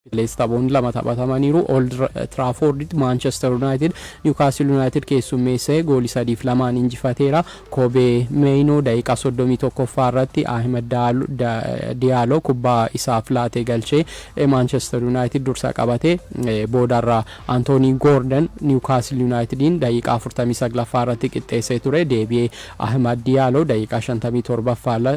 Illees taphoonni lama taphatamaniiru. Old Tiraafoorditti Maanchester Yunaayitid Niwukaastil Yunaayitid keessummeessee gooli 3 fi 2n injifateera. Koobee Meeyinoo daqiiqaa 31ffaa irratti Ahimad Diyaaloo kubbaa isaaf laatee galchee Maanchester Yunaayitid dursa qabate. Boodarra Antoonii Goordan Niwukaastil Yunaayitidiin daqiiqaa 49ffaa irratti qixxeessee ture. Deebi'ee Ahimad Diyaaloo daqiiqaa 57ffaa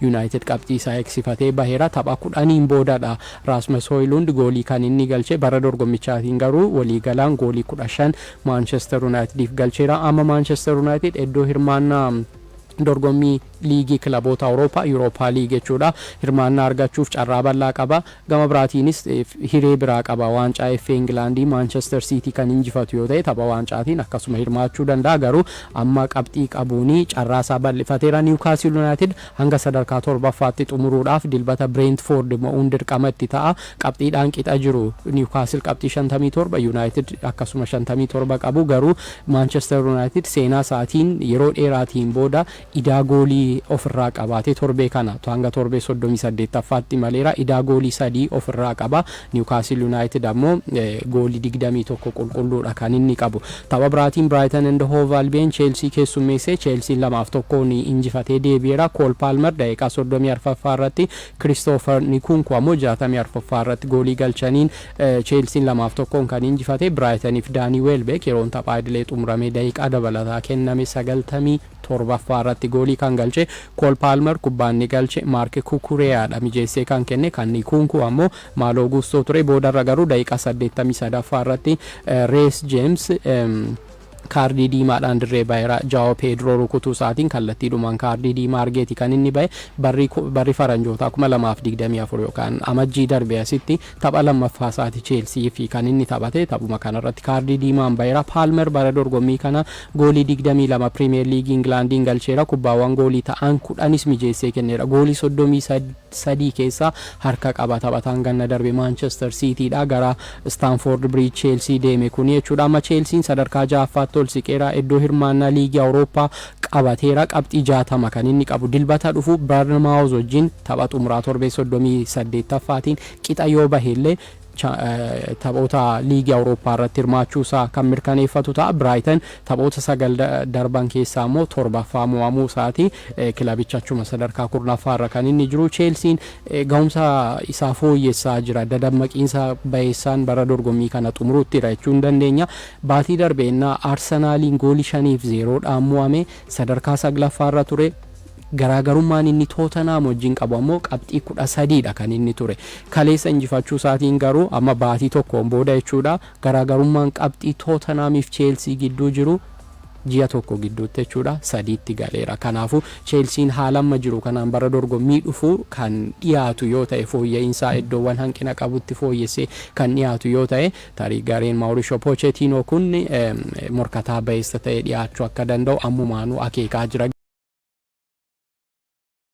Yunaayitid qabxii isaa eegsifatee baheera. Tapha kudhaniin boodadha Raasmas Hooyluund goolii kan inni galche. Bara dorgommichaatiin garuu waliigalaan goolii 15 Maanchester Yunaayitidiif galcheera. Amma Maanchester Yunaayitid iddoo hirmaannaa dorgommii liigii kilaboota Awurooppaa, Yuurooppaa Liig jechuudha, hirmaannaa argachuuf carraa bal'aa qaba. Gama biraatiinis hiree biraa qaba. Waancaa FA Ingilaandii Maanchester Siitii kan injifatu yoo ta'e tapha waancaatiin akkasuma hirmaachuu danda'a. Garuu amma qabxii qabuun carraa isaa bal'ifateera. Niwkaasil Yunaayitid hanga sadarkaa torbaffaatti xumuruudhaaf Dilbata Bireentifoord mo'uun dirqama itti ta'a. Qabxiidhaan qixa jiru. Niwkaasil qabxii 57, Yunaayitid akkasuma 57 qabu. Garuu Maanchester Yunaayitid seenaa isaatiin yeroo dheeraatiin booda idaa goolii ofirraa qabaatee torbee kana hanga torbee 38ffaatti imaleera. Idaa goolii sadii ofirraa qaba. Niwkaasil Yunaayitid ammoo goolii 21 qulqulluudha kan inni qabu. Tapha biraatiin Biraayitan and Hoov Albiyen Cheelsii keessummeesse. Cheelsiin 2 fi 1n injifatee deebi'eera. Kool Paalmer daqiiqaa 34ffaa irratti, Kiristoofer Nikunku ammoo 64ffaa irratti goolii galchaniin Cheelsiin 2 fi 1n kan injifate. Biraayitaniif Daanii Weelbeek yeroon taphaa idilee xumuramee daqiiqaa dabalataa kenname 90. 7ffaa irratti goolii kan galche Kool Paalmer kubbaa inni galche Maark Kukureyaadha mijeessee kan kenne kan Ikuunkuu ammoo Maaloo Guustoo ture boodarra garuu daqiiqaa 83ffaa irratti Rees Jeems kaardii diimaadhaan dirree baheera Jaawoo Peedroo rukutuu isaatiin kallattiidhumaan kaardii diimaa argeeti kan inni bahe barri faranjootaa 2024 yookaan amajjii darbe asitti Tapha lammaffaasaati Cheelsiif kan inni taphate. Taphuma kanarratti kaardii diimaan baheera. Paalmer bara dorgommii kana goolii 22 Piriimiyeer Liigii Ingilaandiin galcheera. Kubbaawwan goolii ta'an 10s mijeessee kenneera. Goolii 33 keessaa harka qaba. Taphataan ganna darbe Maanchester Siitiidhaa gara Istaanfoord Biriij Cheelsii deeme kuni jechuudha. Amma Cheelsiin sadarkaa 6ffaatti ol siqeera. Iddoo hirmaannaa Liigii Awurooppaa qabateera. Qabxii 60 kan inni qabu. Dilbata dhufu Barnmaawuz wajjin Tapha xumuraa torbee 38ffaatiin qixa yoo bahe illee taphoota Liigii Awurooppaa irratti hirmaachuu isaa kan mirkaneeffatu ta'a. Biraayitan taphoota sagal darban keessaa immoo torbaffaa mo'amuu isaati. Kilabichi achuma sadarkaa kurnaffaa irra kan inni jiru. Cheelsiin gahumsa isaa fooyyessaa jira. Dadammaqiinsa bayeessaan bara dorgommii kana xumuruuttidha jechuu ni dandeenya. Baatii darbe ennaa Arsenaaliin goolii 5 fi 0 dhaan mo'ame sadarkaa 9ffaa irra ture. Garaagarummaan inni Tootanhaam wajjin qabu ammoo qabxii 13 dha kan inni ture. Kaleessa injifachuu isaatiin garuu amma baatii tokkoon booda jechuudha, garaagarummaan qabxii Tootanhaamii fi Cheelsii gidduu jiru ji'a tokko gidduutti jechuudha 3tti galeera. Kanaafuu Cheelsiin haala amma jiru kanaan bara dorgommii dhufu kan dhiyaatu yoo ta'e, fooyya'iinsaa iddoowwan hanqina qabutti fooyyessee kan dhiyaatu yoo ta'e Tarii gareen Maurishoo Poocheetiinoo kun morkataa bayeessa ta'ee dhiyaachuu akka danda'u ammumaanuu akeekaa jira.